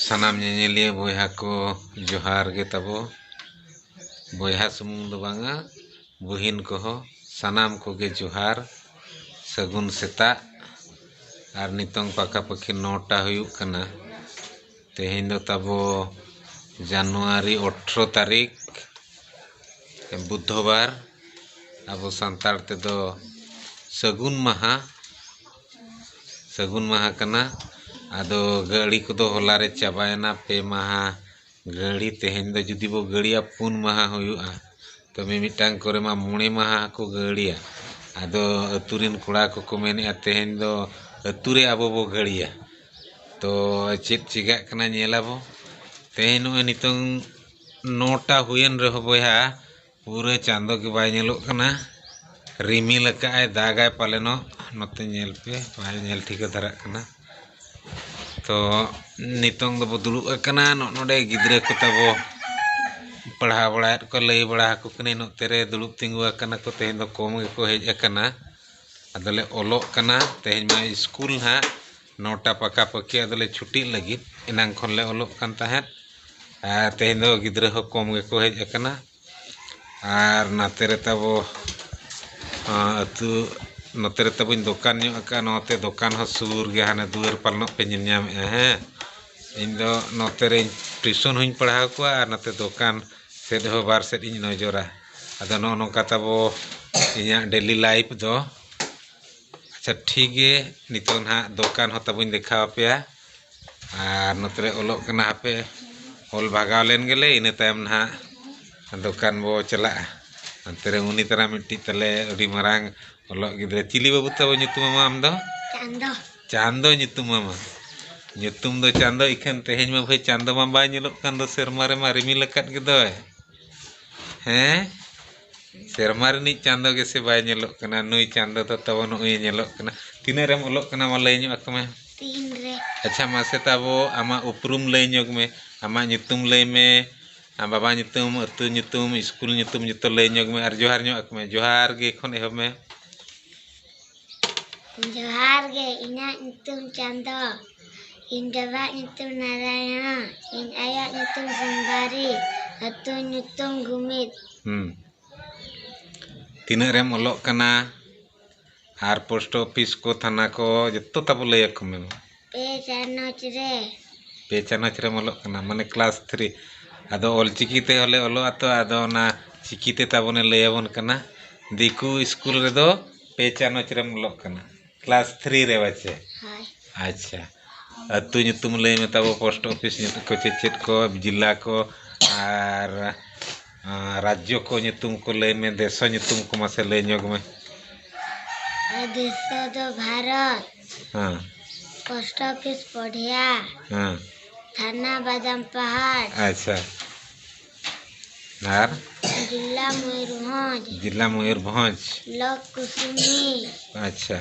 ᱥᱟᱱᱟᱢ ᱧᱮᱧᱮᱞᱤᱭᱟᱹ ᱵᱚᱭᱦᱟ ᱠᱚ ᱡᱚᱦᱟᱨ ᱜᱮ ᱛᱟᱵᱚ ᱵᱚᱭᱦᱟ ᱥᱩᱢᱩᱝ ᱫᱚ ᱵᱟᱝᱟ ᱵᱩᱦᱤᱱ ᱠᱚᱦᱚᱸ ᱥᱟᱱᱟᱢ ᱠᱚᱜᱮ ᱡᱚᱦᱟᱨ ᱥᱟᱹᱜᱩᱱ ᱥᱮᱛᱟᱜ ᱟᱨ ᱱᱤᱛᱚᱝ ᱯᱟᱠᱟ ᱯᱟᱹᱠᱤ ᱱᱚᱴᱟ ᱦᱩᱭᱩᱜ ᱠᱟᱱᱟ ᱛᱮᱦᱮᱧ ᱫᱚ ᱛᱟᱵᱚ ᱡᱟᱱᱩᱣᱟᱨᱤ ᱚᱴᱷᱨᱚ ᱛᱟᱹᱨᱤᱠᱷ ᱵᱩᱫᱷᱚᱵᱟᱨ ᱟᱵᱚ ᱥᱟᱱᱛᱟᱲ ᱛᱮᱫᱚ ᱥᱟᱹᱜᱩᱱ ᱢᱟᱦᱟ ᱥᱟᱹᱜᱩᱱ ᱢᱟᱦᱟ ᱠᱟᱱᱟ ᱟᱫᱚ ᱜᱟᱹᱲᱤ ᱠᱚᱫᱚ ᱦᱚᱞᱟ ᱨᱮ ᱪᱟᱵᱟᱭᱮᱱᱟ ᱯᱮ ᱢᱟᱦᱟ ᱜᱟᱹᱲᱤ ᱛᱮᱦᱮᱧ ᱫᱚ ᱡᱩᱫᱤ ᱵᱚ ᱜᱟᱹᱲᱤᱭᱟ ᱯᱩᱱ ᱢᱟᱦᱟ ᱦᱩᱭᱩᱜᱼᱟ ᱛᱚ ᱢᱤᱢᱤᱫᱴᱟᱝ ᱠᱚᱨᱮ ᱢᱟ ᱢᱚᱬᱮ ᱢᱟᱦᱟ ᱦᱚᱸᱠᱚ ᱜᱟᱹᱲᱤᱭᱟ ᱟᱫᱚ ᱟᱹᱛᱩ ᱨᱮᱱ ᱠᱚᱲᱟ ᱠᱚᱠᱚ ᱢᱮᱱᱮᱫᱼᱟ ᱛᱮᱦᱮᱧ ᱫᱚ ᱟᱹᱛᱩ ᱨᱮ ᱟᱵᱚ ᱵᱚ ᱜᱟᱹᱲᱤᱭᱟ ᱛᱚ ᱪᱮᱫ ᱪᱤᱠᱟᱹᱜ ᱠᱟᱱᱟ ᱧᱮᱞ ᱟᱵᱚ ᱛᱮᱦᱮᱧ ᱱᱚᱜᱼᱚᱭ ᱱᱤᱛᱚᱝ ᱱᱚᱴᱟ ᱦᱩᱭᱮᱱ ᱨᱮᱦᱚᱸ ᱵᱚᱭᱦᱟ ᱯᱩᱨᱟᱹ ᱪᱟᱸᱫᱚ ᱜᱮ ᱵᱟᱭ ᱧᱮᱞᱚᱜ ᱠᱟᱱᱟ ᱨᱤᱢᱤᱞ ᱟᱠᱟᱫ ᱟᱭ ᱫᱟᱜᱟᱭ ᱯᱟᱞᱮᱱᱚᱜ ᱱᱚᱛᱮ ᱧᱮᱞ ᱯᱮ ᱵᱟᱭ ᱧᱮᱞ ᱴᱷᱤᱠᱟᱹ ᱫᱷᱟᱨᱟᱜ ᱠᱟᱱᱟ ᱛᱚ ᱱᱤᱛᱚᱝ ᱫᱚᱵᱚ ᱫᱩᱲᱩᱵ ᱟᱠᱟᱱᱟ ᱱᱚᱜ ᱱᱚᱰᱮ ᱜᱤᱫᱽᱨᱟᱹ ᱠᱚ ᱛᱟᱵᱚ ᱯᱟᱲᱦᱟᱣ ᱵᱟᱲᱟᱭᱮᱫ ᱠᱚ ᱞᱟᱹᱭ ᱵᱟᱲᱟ ᱟᱠᱚ ᱠᱟᱹᱱᱟᱹᱧ ᱱᱚᱛᱮ ᱨᱮ ᱫᱩᱲᱩᱵ ᱛᱤᱸᱜᱩ ᱟᱠᱟᱱᱟ ᱠᱚ ᱛᱮᱦᱮᱧ ᱫᱚ ᱠᱚᱢ ᱜᱮᱠᱚ ᱦᱮᱡ ᱟᱠᱟᱱᱟ ᱟᱫᱚᱞᱮ ᱚᱞᱚᱜ ᱠᱟᱱᱟ ᱛᱮᱦᱮᱧ ᱢᱟ ᱥᱠᱩᱞ ᱦᱟᱸᱜ ᱱᱚᱴᱟ ᱯᱟᱠᱟ ᱯᱟᱹᱠᱤ ᱟᱫᱚ ᱞᱮ ᱪᱷᱩᱴᱤᱜ ᱞᱟᱹᱜᱤᱫ ᱮᱱᱟᱝ ᱠᱷᱚᱱ ᱞᱮ ᱚᱞᱚᱜ ᱠᱟᱱ ᱛᱟᱦᱮᱸᱫ ᱟᱨ ᱛᱮᱦᱮᱧ ᱫᱚ ᱜᱤᱫᱽᱨᱟᱹ ᱦᱚᱸ ᱠᱚᱢ ᱜᱮᱠᱚ ᱦᱮᱡ ᱟᱠᱟᱱᱟ ᱟᱨ ᱱᱟᱛᱮ ᱨᱮ ᱛᱟᱵᱚ ᱟᱹᱛᱩ ᱱᱚᱛᱮ ᱨᱮ ᱛᱟᱵᱚᱧ ᱫᱚᱠᱟᱱ ᱧᱚᱜ ᱟᱠᱟᱫᱼᱟ ᱱᱚᱛᱮ ᱫᱚᱠᱟᱱ ᱦᱚᱸ ᱥᱩᱨ ᱜᱮᱭᱟ ᱦᱟᱱᱮ ᱫᱩᱣᱟᱹᱨ ᱯᱟᱞᱱᱚᱜ ᱯᱮ ᱧᱮᱞ ᱧᱟᱢᱮᱫᱼᱟ ᱦᱮᱸ ᱤᱧ ᱫᱚ ᱱᱚᱛᱮ ᱨᱮ ᱴᱤᱭᱩᱥᱚᱱ ᱦᱚᱧ ᱯᱟᱲᱦᱟᱣ ᱠᱚᱣᱟ ᱟᱨ ᱱᱚᱛᱮ ᱫᱚᱠᱟᱱ ᱥᱮᱫ ᱦᱚᱸ ᱵᱟᱨ ᱥᱮᱫ ᱤᱧ ᱱᱚᱡᱚᱨᱟ ᱟᱫᱚ ᱱᱚᱜᱼᱚ ᱱᱚᱝᱠᱟ ᱛᱟᱵᱚ ᱤᱧᱟᱹᱜ ᱰᱮᱞᱤ ᱞᱟᱭᱤᱯᱷ ᱫᱚ ᱟᱪᱪᱷᱟ ᱴᱷᱤᱠ ᱜᱮ ᱱᱤᱛᱚᱜ ᱱᱟᱦᱟᱜ ᱫᱚᱠᱟᱱ ᱦᱚᱸ ᱛᱟᱵᱚᱧ ᱫᱮᱠᱷᱟᱣ ᱟᱯᱮᱭᱟ ᱟᱨ ᱱᱚᱛᱮ ᱨᱮ ᱚᱞᱚᱜ ᱠᱟᱱᱟ ᱦᱟᱯᱮ ᱚᱞ ᱵᱷᱟᱜᱟᱣ ᱞᱮᱱ ᱜᱮᱞᱮ ᱤᱱᱟᱹ ᱛᱟᱭᱚᱢ ᱱᱟᱦᱟᱜ ᱫᱚᱠᱟᱱ ᱵᱚ ᱪᱟᱞᱟᱜᱼᱟ ᱚᱱᱛᱮ ᱨᱮ ᱩᱱᱤ ᱛᱟᱨᱟ ᱢᱤᱫᱴᱤᱡ ᱛᱟᱞᱮ ᱟᱹᱰᱤ ᱢᱟᱨᱟᱝ ᱚᱞᱚᱜ ᱜᱤᱫᱽᱨᱟᱹ ᱪᱤᱞᱤ ᱵᱟᱹᱵᱩ ᱛᱟᱵᱚ ᱧᱩᱛᱩᱢᱟᱢᱟ ᱟᱢ ᱫᱚ ᱪᱟᱸᱫᱚ ᱪᱟᱸᱫᱚ ᱧᱩᱛᱩᱢᱟᱢᱟ ᱧᱩᱛᱩᱢ ᱫᱚ ᱪᱟᱸᱫᱚ ᱤᱠᱷᱟᱹᱱ ᱛᱮᱦᱮᱧ ᱢᱟ ᱵᱷᱟᱹᱭ ᱪᱟᱸᱫᱚ ᱢᱟ ᱵᱟᱭ ᱧᱮᱞᱚᱜ ᱠᱟᱱ ᱫᱚ ᱥᱮᱨᱢᱟ ᱨᱮᱢᱟ ᱨᱤᱢᱤᱞ ᱟᱠᱟᱫ ᱜᱮᱫᱚᱭ ᱦᱮᱸ ᱥᱮᱨᱢᱟ ᱨᱤᱱᱤᱡ ᱪᱟᱸᱫᱚ ᱜᱮᱥᱮ ᱵᱟᱭ ᱧᱮᱞᱚᱜ ᱠᱟᱱᱟ ᱱᱩᱭ ᱪᱟᱸᱫᱚ ᱫᱚ ᱛᱟᱵᱚ ᱱᱩᱜᱼᱩᱭ ᱮ ᱧᱮᱞᱚᱜ ᱠᱟᱱᱟ ᱛᱤᱱᱟᱹᱜ ᱨᱮᱢ ᱚᱞᱚᱜ ᱠᱟᱱᱟ ᱢᱟ ᱞᱟᱹᱭ ᱧᱚᱜ ᱟᱠᱚ ᱢᱮ ᱛᱤᱱ ᱨᱮ ᱟᱪᱪᱷᱟ ᱢᱟᱥᱮ ᱛᱟᱵᱚ ᱟᱢᱟᱜ ᱩᱯᱨᱩᱢ ᱞᱟᱹᱭ ᱧᱚᱜᱽ ᱢᱮ ᱟᱢᱟᱜ ᱧᱩᱛᱩᱢ ᱞᱟᱹᱭ ᱢᱮ ᱟᱢ ᱵᱟᱵᱟ ᱧᱩᱛᱩᱢ ᱟᱹᱛᱩ ᱧᱩᱛᱩᱢ ᱤᱥᱠᱩᱞ ᱧᱩᱛᱩᱢ ᱡᱚᱛᱚ ᱞᱟᱹᱭ ᱧᱚᱜᱽ ᱢᱮ ᱟᱨ ᱡᱚᱦᱟᱨ ᱧᱚᱜ ᱟᱠᱚ ᱢᱮ ᱡᱚᱦᱟᱨ ᱜᱮ ᱠᱷᱚᱱ ᱮᱦᱚᱵ ᱢᱮ ᱡᱚᱦᱟᱨ ᱜᱮ ᱤᱧᱟᱹᱜ ᱧᱩᱛᱩᱢ ᱪᱟᱸᱫᱚ ᱤᱧ ᱵᱟᱵᱟᱣᱟᱜ ᱧᱩᱛᱩᱢ ᱱᱟᱨᱟᱭᱚᱱ ᱤᱧ ᱟᱭᱳᱣᱟᱜ ᱧᱩᱛᱩᱢ ᱥᱩᱱᱫᱚᱨᱤ ᱟᱹᱛᱩ ᱧᱩᱛᱩᱢ ᱜᱩᱢᱤᱫ ᱦᱩᱸ ᱛᱤᱱᱟᱹᱜ ᱨᱮᱢ ᱚᱞᱚᱜ ᱠᱟᱱᱟ ᱟᱨ ᱯᱳᱥᱴ ᱚᱯᱷᱤᱥ ᱠᱚ ᱛᱷᱟᱱᱟ ᱠᱚ ᱡᱚᱛᱚ ᱛᱟᱵᱚ ᱞᱟᱹᱭᱟᱠᱚ ᱢᱮ ᱢᱟ ᱯᱮ ᱪᱟᱱᱟᱪ ᱨᱮ ᱯᱮ ᱪᱟᱱᱟᱪ ᱨᱮᱢ ᱚᱞᱚᱜ ᱠᱟᱱᱟ ᱢᱟᱱᱮ ᱠᱞᱟᱥ ᱛᱷᱨᱤ ᱟᱫᱚ ᱚᱞ ᱪᱤᱠᱤ ᱛᱮ ᱦᱚᱸᱞᱮ ᱚᱞᱚᱜᱼᱟ ᱛᱚ ᱟᱫᱚ ᱚᱱᱟ ᱪᱤᱠᱤ ᱛᱮ ᱛᱟᱵᱚᱱᱮ ᱞᱟᱹᱭ ᱟᱵᱚᱱ ᱠᱟᱱᱟ ᱫᱤᱠᱩ ᱥᱠᱩᱞ ᱨᱮᱫᱚ ᱯᱮ ᱪᱟᱱᱟᱪ ᱨᱮᱢ ᱚᱞᱚᱜ ᱠᱟᱱᱟ ᱠᱞᱟᱥ ᱛᱷᱨᱤ ᱨᱮ ᱵᱟᱪᱮ ᱦᱳᱭ ᱟᱪᱪᱷᱟ ᱟᱹᱛᱩ ᱧᱩᱛᱩᱢ ᱞᱟᱹᱭ ᱢᱮ ᱛᱟᱵᱚ ᱯᱳᱥᱴ ᱚᱯᱷᱤᱥ ᱧᱩᱛᱩᱢ ᱠᱚ ᱪᱮᱫ ᱪᱮᱫ ᱠᱚ ᱡᱮᱞᱟ ᱠᱚ ᱟᱨ ᱨᱟᱡᱽᱡᱚ ᱠᱚ ᱧᱩᱛᱩᱢ ᱠᱚ ᱞᱟᱹᱭ ᱢᱮ ᱫᱮᱥᱚ ᱧᱩᱛᱩᱢ ᱠᱚ ᱢᱟᱥᱮ ᱞᱟᱹᱭ ᱧᱚᱜᱽ ᱢᱮ ᱫᱮᱥᱚ ᱫᱚ ᱵᱷᱟᱨᱚᱛ ᱦᱮᱸ ᱯᱳᱥᱴ ᱚᱯᱷᱤᱥ ᱯᱚᱰᱷᱤᱭᱟ ᱦᱮᱸ ᱛᱷᱟᱱᱟ ᱵᱟᱫᱟᱢ ᱯᱟᱦᱟᱲ ᱟᱪᱪᱷᱟ ᱟᱨ ᱡᱮᱞᱟ ᱢᱚᱭᱩᱨᱵᱷᱚᱸᱡᱽ ᱡᱮᱞᱟ ᱢᱚᱭᱩᱨᱵᱷᱚᱸᱡᱽ ᱵᱞᱚᱠ ᱠᱩᱥᱩᱢᱤ ᱟᱪᱪᱷᱟ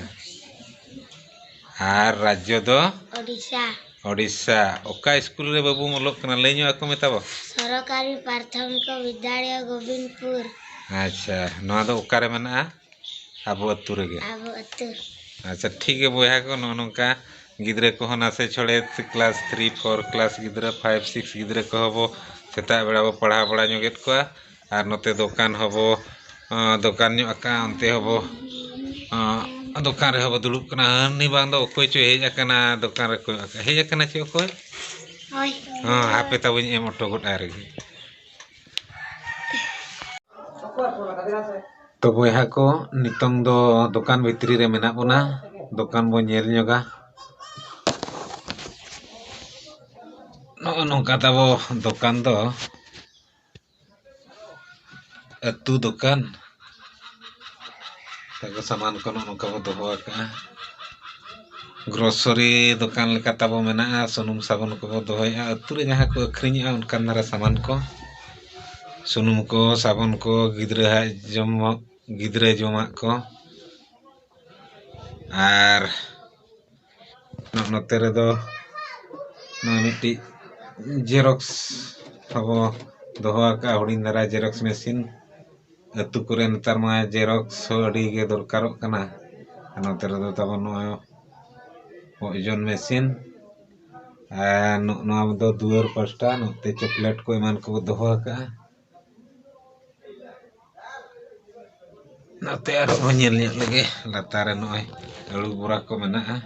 ᱟᱨ ᱨᱟᱡᱽᱡᱚ ᱫᱚ ᱳᱰᱤᱥᱟ ᱳᱰᱤᱥᱟ ᱚᱠᱟ ᱤᱥᱠᱩᱞ ᱨᱮ ᱵᱟᱹᱵᱩᱢ ᱚᱞᱚᱜ ᱠᱟᱱᱟ ᱞᱟᱹᱭ ᱧᱚᱜ ᱟᱠᱚ ᱢᱮ ᱛᱟᱵᱚ ᱥᱚᱨᱚᱠᱟᱨᱤ ᱯᱨᱟᱛᱷᱚᱢᱤᱠᱚ ᱵᱤᱫᱽᱫᱟᱞᱚᱭ ᱜᱳᱵᱤᱱᱫᱽᱯᱩᱨ ᱟᱪᱪᱷᱟ ᱱᱚᱣᱟ ᱫᱚ ᱚᱠᱟᱨᱮ ᱢᱮᱱᱟᱜᱼᱟ ᱟᱵᱚ ᱟᱹᱛᱩ ᱨᱮᱜᱮ ᱟᱵᱚ ᱟᱹᱛᱩ ᱟᱪᱪᱷᱟ ᱴᱷᱤᱠ ᱜᱮᱭᱟ ᱵᱚᱭᱦᱟ ᱠᱚ ᱱᱚᱜᱼᱚ ᱱᱚᱝᱠᱟ ᱜᱤᱫᱽᱨᱟᱹ ᱠᱚᱦᱚᱸ ᱱᱟᱥᱮ ᱪᱷᱚᱲᱮ ᱠᱞᱟᱥ ᱛᱷᱨᱤ ᱯᱷᱳᱨ ᱠᱞᱟᱥ ᱜᱤᱫᱽᱨᱟᱹ ᱯᱷᱟᱭᱤᱵᱷ ᱥᱤᱠᱥ ᱜᱤᱫᱽᱨᱟᱹ ᱠᱚᱦᱚᱸ ᱵᱚ ᱥᱮᱛᱟᱜ ᱵᱮᱲᱟ ᱵᱚ ᱯᱟᱲᱦᱟᱣ ᱵᱟᱲᱟ ᱧᱚᱜᱮᱫ ᱠᱚᱣᱟ ᱟᱨ ᱱᱚᱛᱮ ᱫᱚᱠᱟᱱ ᱦᱚᱸᱵᱚ ᱫᱚᱠᱟᱱ ᱧᱚᱜ ᱟᱠᱟᱫᱼᱟ ᱚᱱᱛᱮ ᱦᱚᱸᱵᱚ ᱫᱚᱠᱟᱱ ᱨᱮᱦᱚᱸ ᱵᱚ ᱫᱩᱲᱩᱵ ᱠᱟᱱᱟ ᱦᱟᱹᱱᱤ ᱵᱟᱝ ᱫᱚ ᱚᱠᱚᱭ ᱪᱚᱭ ᱦᱮᱡ ᱟᱠᱟᱱᱟ ᱫᱚᱠᱟᱱ ᱨᱮ ᱠᱚᱭᱚᱜ ᱟᱠᱟᱫᱼᱟᱭ ᱦᱮᱡ ᱟᱠᱟᱱᱟᱭ ᱪᱮ ᱚᱠᱚᱭ ᱦᱳᱭ ᱦᱮᱸ ᱦᱟᱯᱮ ᱛᱟᱵᱚᱧ ᱮᱢ ᱦᱚᱴᱚ ᱜᱚᱫ ᱟᱭ ᱨᱮᱜᱮ ᱛᱚ ᱵᱚᱭᱦᱟ ᱠᱚ ᱱᱤᱛᱚᱝ ᱫᱚ ᱫᱚᱠᱟᱱ ᱵᱷᱤᱛᱨᱤ ᱨᱮ ᱢᱮᱱᱟᱜ ᱵᱚᱱᱟ ᱫᱚᱠᱟᱱ ᱵᱚᱱ ᱧᱮᱞ ᱧᱚᱜᱟ ᱱᱚᱜᱼᱚ ᱱᱚᱝᱠᱟ ᱛᱟᱵᱚ ᱫᱚᱠᱟᱱ ᱫᱚ ᱟᱹᱛᱩ ᱫᱚᱠᱟᱱ ᱛᱟᱠᱚ ᱥᱟᱢᱟᱱ ᱠᱚ ᱱᱚᱜᱼᱚ ᱱᱚᱝᱠᱟ ᱵᱚ ᱫᱚᱦᱚ ᱟᱠᱟᱜᱼᱟ ᱜᱨᱚᱥᱟᱨᱤ ᱫᱚᱠᱟᱱ ᱞᱮᱠᱟ ᱛᱟᱵᱚ ᱢᱮᱱᱟᱜᱼᱟ ᱥᱩᱱᱩᱢ ᱥᱟᱵᱚᱱ ᱠᱚᱵᱚ ᱫᱚᱦᱚᱭᱮᱜᱼᱟ ᱟᱹᱛᱩ ᱨᱮ ᱡᱟᱦᱟᱸ ᱠᱚ ᱟᱹᱠᱷᱨᱤᱧᱮᱜᱼᱟ ᱚᱱᱠᱟᱱ ᱫᱷᱟᱨᱟ ᱥᱟᱢᱟᱱ ᱠᱚ ᱥᱩᱱᱩᱢ ᱠᱚ ᱥᱟᱵᱚᱱ ᱠᱚ ᱜᱤᱫᱽᱨᱟᱹᱣᱟᱜ ᱡᱚᱢᱟᱜ ᱜᱤᱫᱽᱨᱟᱹ ᱡᱚᱢᱟᱜ ᱠᱚ ᱟᱨ ᱱᱚᱛᱮ ᱨᱮᱫᱚ ᱱᱚᱜᱼᱚᱭ ᱢᱤᱫᱴᱤᱡ ᱡᱮᱨᱚᱠᱥ ᱟᱵᱚ ᱫᱚᱦᱚ ᱟᱠᱟᱫᱼᱟ ᱦᱩᱰᱤᱧ ᱫᱷᱟᱨᱟ ᱡᱮᱨᱚᱠᱥ ᱢᱮᱹᱥᱤᱱ ᱟᱹᱛᱩ ᱠᱚᱨᱮ ᱱᱮᱛᱟᱨ ᱢᱟ ᱡᱮᱨᱚᱠᱥ ᱦᱚᱸ ᱟᱹᱰᱤ ᱜᱮ ᱫᱚᱨᱠᱟᱨᱚᱜ ᱠᱟᱱᱟ ᱟᱨ ᱱᱚᱛᱮ ᱨᱮᱫᱚ ᱛᱟᱵᱚᱱ ᱱᱚᱜᱼᱚᱭ ᱳᱡᱚᱱ ᱢᱮᱹᱥᱤᱱ ᱟᱨ ᱱᱚᱜᱼᱚ ᱱᱚᱣᱟ ᱫᱚ ᱫᱩᱣᱟᱹᱨ ᱯᱟᱥᱴᱟ ᱱᱚᱛᱮ ᱪᱚᱠᱞᱮᱹᱴ ᱠᱚ ᱮᱢᱟᱱ ᱠᱚ ᱫᱚᱦᱚ ᱟᱠᱟᱫᱼᱟ ᱱᱚᱛᱮ ᱟᱨᱦᱚᱸ ᱵᱚᱱ ᱧᱮᱞ ᱧᱚᱜ ᱞᱮᱜᱮ ᱞᱟᱛᱟᱨ ᱨᱮ ᱱᱚᱜᱼᱚᱭ ᱟᱹᱞᱩ ᱵᱚᱨᱟ ᱠᱚ ᱢᱮᱱᱟᱜᱼᱟ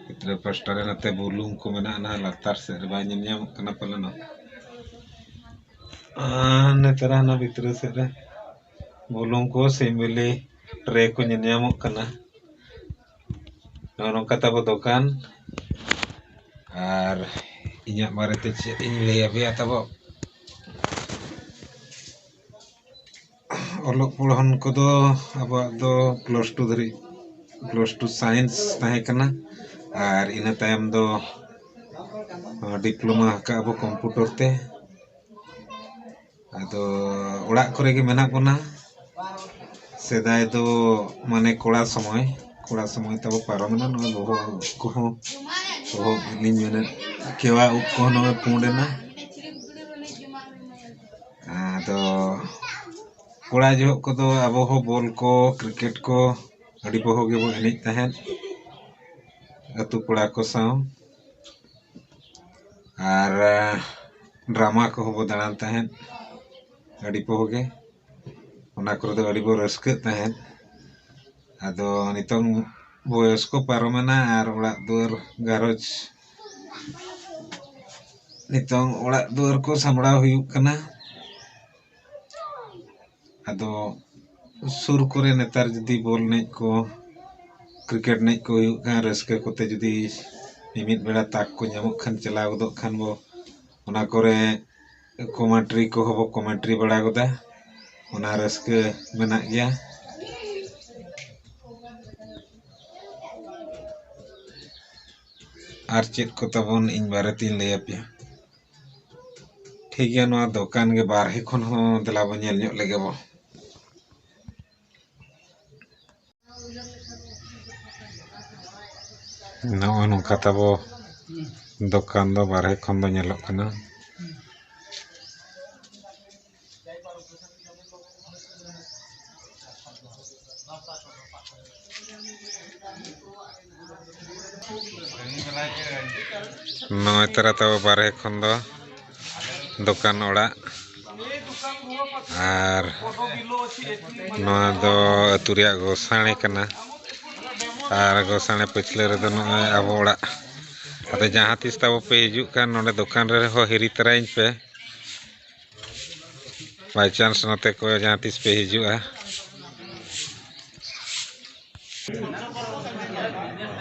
ᱵᱷᱤᱛᱨᱤ ᱯᱟᱥᱴᱟ ᱨᱮ ᱱᱚᱛᱮ ᱵᱩᱞᱩᱝ ᱠᱚ ᱢᱮᱱᱟᱜᱼᱟ ᱱᱟᱦᱟᱜ ᱞᱟᱛᱟᱨ ᱥᱮᱫ ᱨᱮ ᱵᱟᱭ ᱧᱮᱞ ᱧᱟᱢᱚᱜ ᱠᱟᱱᱟ ᱯᱟᱞᱮᱱ ᱱᱮᱛᱟᱨ ᱦᱟᱱᱟ ᱵᱷᱤᱛᱨᱤ ᱥᱮᱫ ᱨᱮ ᱵᱩᱞᱩᱝ ᱠᱚ ᱥᱤᱢ ᱵᱤᱞᱤ ᱴᱨᱮ ᱠᱚ ᱧᱮᱞ ᱧᱟᱢᱚᱜ ᱠᱟᱱᱟ ᱱᱚᱜᱼᱚ ᱱᱚᱝᱠᱟ ᱛᱟᱵᱚ ᱫᱚᱠᱟᱱ ᱟᱨ ᱤᱧᱟᱹᱜ ᱵᱟᱨᱮᱛᱮ ᱪᱮᱫ ᱤᱧ ᱞᱟᱹᱭ ᱟᱯᱮᱭᱟ ᱛᱟᱵᱚ ᱚᱞᱚᱜ ᱯᱚᱲᱦᱚᱱ ᱠᱚᱫᱚ ᱟᱵᱚᱣᱟᱜ ᱫᱚ ᱯᱞᱟᱥ ᱴᱩ ᱫᱷᱟᱹᱨᱤᱡ ᱯᱞᱟᱥ ᱴᱩ ᱥᱟᱭᱮᱱᱥ ᱛᱟᱦᱮᱸ ᱠᱟᱱᱟ ᱟᱨ ᱤᱱᱟᱹ ᱛᱟᱭᱚᱢ ᱫᱚ ᱰᱤᱯᱞᱳᱢᱟ ᱟᱠᱟᱫ ᱟᱵᱚ ᱠᱚᱢᱯᱩᱴᱟᱨ ᱛᱮ ᱟᱫᱚ ᱚᱲᱟᱜ ᱠᱚᱨᱮ ᱜᱮ ᱢᱮᱱᱟᱜ ᱵᱚᱱᱟ ᱥᱮᱫᱟᱭ ᱫᱚ ᱢᱟᱱᱮ ᱠᱚᱲᱟ ᱥᱚᱢᱚᱭ ᱠᱚᱲᱟ ᱥᱚᱢᱚᱭ ᱛᱟᱵᱚ ᱯᱟᱨᱚᱢᱮᱱᱟ ᱱᱚᱣᱟ ᱵᱚᱦᱚᱜ ᱩᱵ ᱠᱚᱦᱚᱸ ᱵᱚᱦᱚᱜ ᱩᱵ ᱞᱤᱧ ᱢᱮᱱᱮᱫ ᱠᱮᱣᱟ ᱩᱵ ᱠᱚᱦᱚᱸ ᱱᱚᱜᱼᱚᱭ ᱯᱩᱸᱰ ᱮᱱᱟ ᱟᱫᱚ ᱠᱚᱲᱟ ᱡᱚᱦᱚᱜ ᱠᱚᱫᱚ ᱟᱵᱚ ᱦᱚᱸ ᱵᱚᱞ ᱠᱚ ᱠᱨᱤᱠᱮᱴ ᱠᱚ ᱟᱹᱰᱤ ᱵᱚᱦᱚᱜ ᱜᱮᱵᱚ ᱮᱱᱮᱡ ᱛᱟᱦᱮᱸᱫ ᱟᱛᱳ ᱠᱚᱲᱟ ᱠᱚ ᱥᱟᱶ ᱟᱨ ᱰᱨᱟᱢᱟ ᱠᱚᱦᱚᱸ ᱵᱚᱱ ᱫᱟᱬᱟᱱ ᱛᱟᱦᱮᱸᱫ ᱟᱹᱰᱤ ᱯᱚᱦᱚᱸ ᱜᱮ ᱚᱱᱟ ᱠᱚᱨᱮ ᱫᱚ ᱟᱹᱰᱤ ᱵᱚᱱ ᱨᱟᱹᱥᱠᱟᱹᱜ ᱛᱟᱦᱮᱸᱫ ᱟᱫᱚ ᱱᱤᱛᱚᱝ ᱵᱚᱭᱚᱥ ᱠᱚ ᱯᱟᱨᱚᱢᱮᱱᱟ ᱟᱨ ᱚᱲᱟᱜ ᱫᱩᱣᱟᱹᱨ ᱜᱷᱟᱨᱚᱸᱡᱽ ᱱᱤᱛᱚᱝ ᱚᱲᱟᱜ ᱫᱩᱣᱟᱹᱨ ᱠᱚ ᱥᱟᱢᱵᱽᱲᱟᱣ ᱦᱩᱭᱩᱜ ᱠᱟᱱᱟ ᱟᱫᱚ ᱥᱩᱨ ᱠᱚᱨᱮ ᱱᱮᱛᱟᱨ ᱡᱩᱫᱤ ᱵᱚᱞ ᱮᱱᱮᱡ ᱠᱚ ᱠᱨᱤᱠᱮᱴ ᱮᱱᱮᱡ ᱠᱚ ᱦᱩᱭᱩᱜ ᱠᱷᱟᱱ ᱨᱟᱹᱥᱠᱟᱹ ᱠᱚᱛᱮ ᱡᱩᱫᱤ ᱢᱤᱢᱤᱫ ᱵᱮᱲᱟ ᱛᱟᱠ ᱠᱚ ᱧᱟᱢᱚᱜ ᱠᱷᱟᱱ ᱪᱟᱞᱟᱣ ᱜᱚᱫᱚᱜ ᱠᱷᱟᱱ ᱵᱚ ᱚᱱᱟ ᱠᱚᱨᱮ ᱠᱚᱢᱮᱱᱴᱨᱤ ᱠᱚᱦᱚᱸ ᱵᱚ ᱠᱚᱢᱮᱱᱴᱨᱤ ᱵᱟᱲᱟ ᱜᱚᱫᱟ ᱚᱱᱟ ᱨᱟᱹᱥᱠᱟᱹ ᱢᱮᱱᱟᱜ ᱜᱮᱭᱟ ᱟᱨ ᱪᱮᱫ ᱠᱚ ᱛᱟᱵᱚᱱ ᱤᱧ ᱵᱟᱨᱮᱛᱤᱧ ᱞᱟᱹᱭ ᱟᱯᱮᱭᱟ ᱴᱷᱤᱠ ᱜᱮᱭᱟ ᱱᱚᱣᱟ ᱫᱚᱠᱟᱱ ᱜᱮ ᱵᱟᱨᱦᱮ ᱠᱷᱚᱱ ᱦᱚᱸ ᱫᱮᱞᱟ ᱵᱚᱱ ᱧᱮᱞ ᱧᱚᱜ ᱞᱮᱜᱮ ᱵᱚ ᱱᱚᱜᱼᱚᱭ ᱱᱚᱝᱠᱟ ᱛᱟᱵᱚ ᱫᱚᱠᱟᱱ ᱫᱚ ᱵᱟᱨᱦᱮ ᱠᱷᱚᱱ ᱫᱚ ᱧᱮᱞᱚᱜ ᱠᱟᱱᱟ ᱱᱚᱜᱼᱚᱭ ᱛᱚᱨᱟ ᱛᱟᱵᱚ ᱵᱟᱨᱦᱮ ᱠᱷᱚᱱ ᱫᱚ ᱫᱚᱠᱟᱱ ᱚᱲᱟᱜ ᱟᱨ ᱱᱚᱣᱟ ᱫᱚ ᱟᱹᱛᱩ ᱨᱮᱭᱟᱜ ᱜᱚᱥᱟᱬᱮ ᱠᱟᱱᱟ ᱟᱨ ᱜᱚᱥᱟᱬᱮ ᱯᱟᱹᱪᱷᱞᱟᱹ ᱨᱮᱫᱚ ᱱᱚᱜᱼᱚᱭ ᱟᱵᱚ ᱚᱲᱟᱜ ᱟᱫᱚ ᱡᱟᱦᱟᱸ ᱛᱤᱥ ᱛᱟᱵᱚ ᱯᱮ ᱦᱤᱡᱩᱜ ᱠᱷᱟᱱ ᱱᱚᱰᱮ ᱫᱚᱠᱟᱱ ᱨᱮᱦᱚᱸ ᱦᱤᱨᱤ ᱛᱟᱨᱟᱭᱤᱧ ᱯᱮ ᱵᱟᱭ ᱪᱟᱱᱥ ᱱᱚᱛᱮ ᱠᱚ ᱡᱟᱦᱟᱸ ᱛᱤᱥ ᱯᱮ ᱦᱤᱡᱩᱜᱼᱟ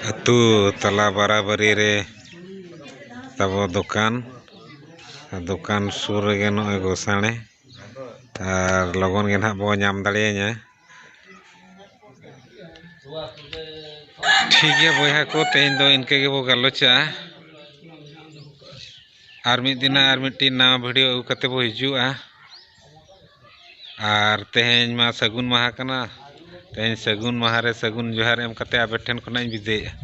ᱟᱹᱛᱩ ᱛᱟᱞᱟ ᱵᱟᱨᱟᱵᱟᱹᱨᱤ ᱨᱮ ᱛᱟᱵᱚ ᱫᱚᱠᱟᱱ ᱫᱚᱠᱟᱱ ᱥᱩᱨ ᱨᱮᱜᱮ ᱱᱚᱜᱼᱚᱭ ᱜᱳᱥᱟᱲᱮ ᱟᱨ ᱞᱚᱜᱚᱱ ᱜᱮ ᱱᱟᱜ ᱵᱚᱱ ᱧᱟᱢ ᱫᱟᱲᱮᱭᱤᱧᱟ ᱴᱷᱤᱠ ᱜᱮᱭᱟ ᱵᱚᱭᱦᱟ ᱠᱚ ᱛᱮᱦᱮᱧ ᱫᱚ ᱤᱱᱠᱟᱹ ᱜᱮᱵᱚᱱ ᱜᱟᱞᱚᱪᱟ ᱟᱨ ᱢᱤᱫ ᱫᱤᱱ ᱦᱟᱸᱜ ᱟᱨ ᱢᱤᱫᱴᱤᱱ ᱱᱟᱣᱟ ᱵᱷᱤᱰᱤᱭᱳ ᱟᱹᱜᱩ ᱠᱟᱛᱮᱫ ᱵᱚᱱ ᱦᱤᱡᱩᱜᱼᱟ ᱟᱨ ᱛᱮᱦᱮᱧ ᱢᱟ ᱥᱟᱹᱜᱩᱱ ᱢᱟᱦᱟ ᱠᱟᱱᱟ ᱛᱮᱦᱮᱧ ᱥᱟᱹᱜᱩᱱ ᱢᱟᱦᱟ ᱨᱮ ᱥᱟᱹᱜᱩᱱ ᱡᱚᱦᱟᱨ ᱮᱢ ᱠᱟᱛᱮᱫ ᱟᱵᱮᱱ ᱴᱷᱮᱱ ᱠᱷᱚᱱᱟᱜ ᱤᱧ ᱵᱤᱫᱟᱹᱭᱮᱫᱼᱟ